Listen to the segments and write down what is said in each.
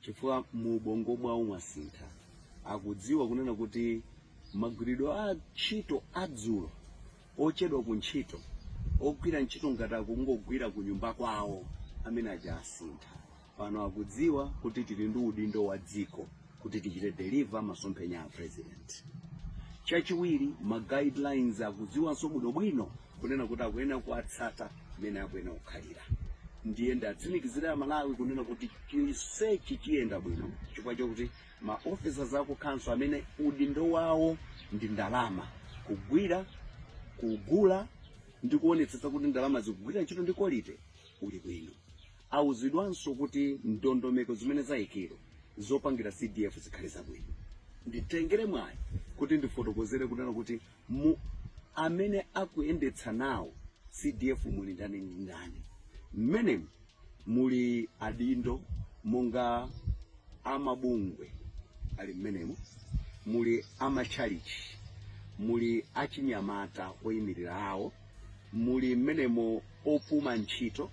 chifukwa mu ubongo mwawo mwasintha akudziwa kunena kuti magwiridwe a ntchito adzulo ochedwa ku ntchito ogwira ntchito ngati akungogwira ku nyumba kwawo amene aja asintha pano akudziwa kuti tili ndi udindo wa dziko kuti tichite deliver masomphenya a president chachiwiri ma guidelines akudziwanso bwinobwino kunena kuti akuyenera kuwatsata mmene akuyenera kukhalira ndiye ndiwatsimikizire amalawi kunena kuti chonsechi chiyenda bwino chifukwa chokuti ma officers aku council amene udindo wawo ndi ndalama kugwira kugula ndi kuonetsetsa kuti ndalama zikugwira ntchito ndi quality uli bwino awuzidwanso kuti ndondomeko zimene zayikidwa zopangira cdf zikhale zabwino nditengere mwayi kuti ndifotokozere kunena kuti mu amene akuyendetsa nawo CDF muli ndani ndi ndani. Mmenemo muli adindo monga amabungwe ali mmenemo, muli amatchalichi, muli achinyamata oyimirira awo, muli mmenemo opuma ntchito,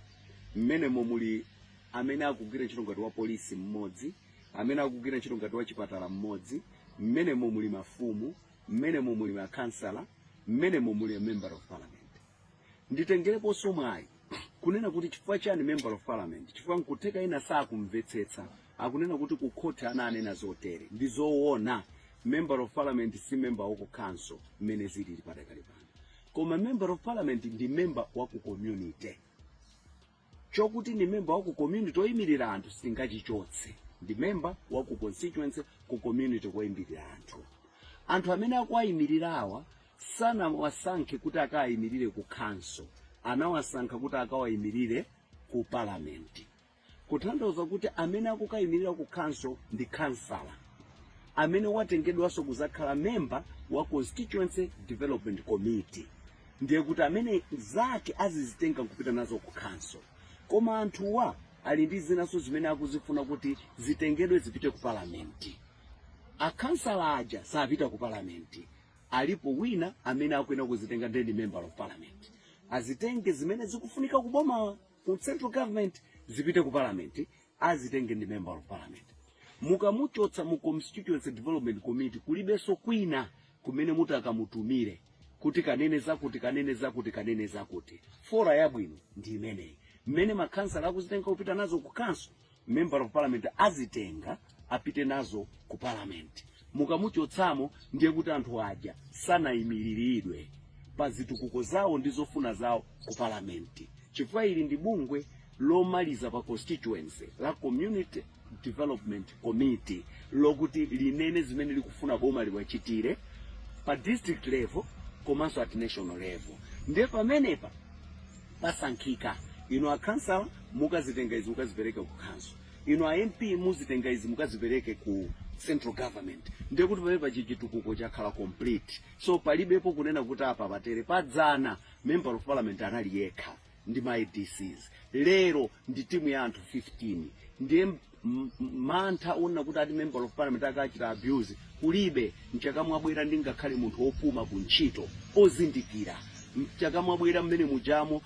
mmenemo muli amene akugwira ntchito ngati wa polisi mmodzi, amene akugwira ntchito ngati wa chipatala mmodzi, mmenemo muli mafumu, mmenemo muli makhansala mmenemo muli a member of parliament nditengereponso mwayi kunena kuti chifukwa chani member of parliament chifukwa nkutheka ena sakumvetsetsa akunena kuti ku khoti ana anena zotere ndi zoona member of parliament si member wa ku council mmene zilili padakali pano koma member of parliament ndi member wa ku community chokuti ndi memba wa ku community oyimirira anthu singachichotse ndi memba wa ku constituency ku community koyimirira anthu anthu amene akuwayimirira awa sanawasankhe kuti akawayimirire ku council anawasankha kuti akawayimirire ku parliament kutanthauza kuti amene akukayimirira ku council ndi kansala amene watengedwanso kuzakhala memba wa constituency development committee ndiye kuti amene zake azizitenga nkupita nazo ku khanso koma anthuwa ali ndi zinanso zimene akuzifuna kuti zitengedwe zipite ku palamenti akhansala aja sapita ku palamenti alipo wina amene akuyenera kuzitenga ndiye ndi member of parliament azitenge zimene zikufunika ku boma ku central government zipite ku parliament azitenge ndi member of parliament mukamuchotsa mu constituency development committee kulibenso kwina kumene muti akamutumire kuti kanene zakuti kanene zakuti kanene zakuti fora yabwino ndi imeneyi mmene makhansala akuzitenga kupita nazo ku council member of parliament azitenga apite nazo ku parliament Mukamuchotsamo ndiye kuti anthu aja sanayimiliridwe pa zitukuko zawo ndi zofuna zawo ku parliament chifukwa ili ndi bungwe lomaliza pa constituency la Community Development Committee lokuti linene zimene likufuna boma liwachitire pa district level komanso at national level. Ndiye pamenepa pasankhika inu akhansala mukazitenga izi mukazipereka kukhanso inu a mp muzitenga izi mukazipereke ku central government ndiye kuti pamenepa chitukuko chakhala complete so palibepo kunena kuti apa patere padzana member of parliament anali yekha ndi ma adcs lero ndi timu ya anthu 15 ndiye m- m- mantha onena kuti ati member of parliament akachita abuse kulibe mchaka mwabwera ndi ngakhale munthu wopuma ku ntchito ozindikira mchaka mwabwera mmene mujamo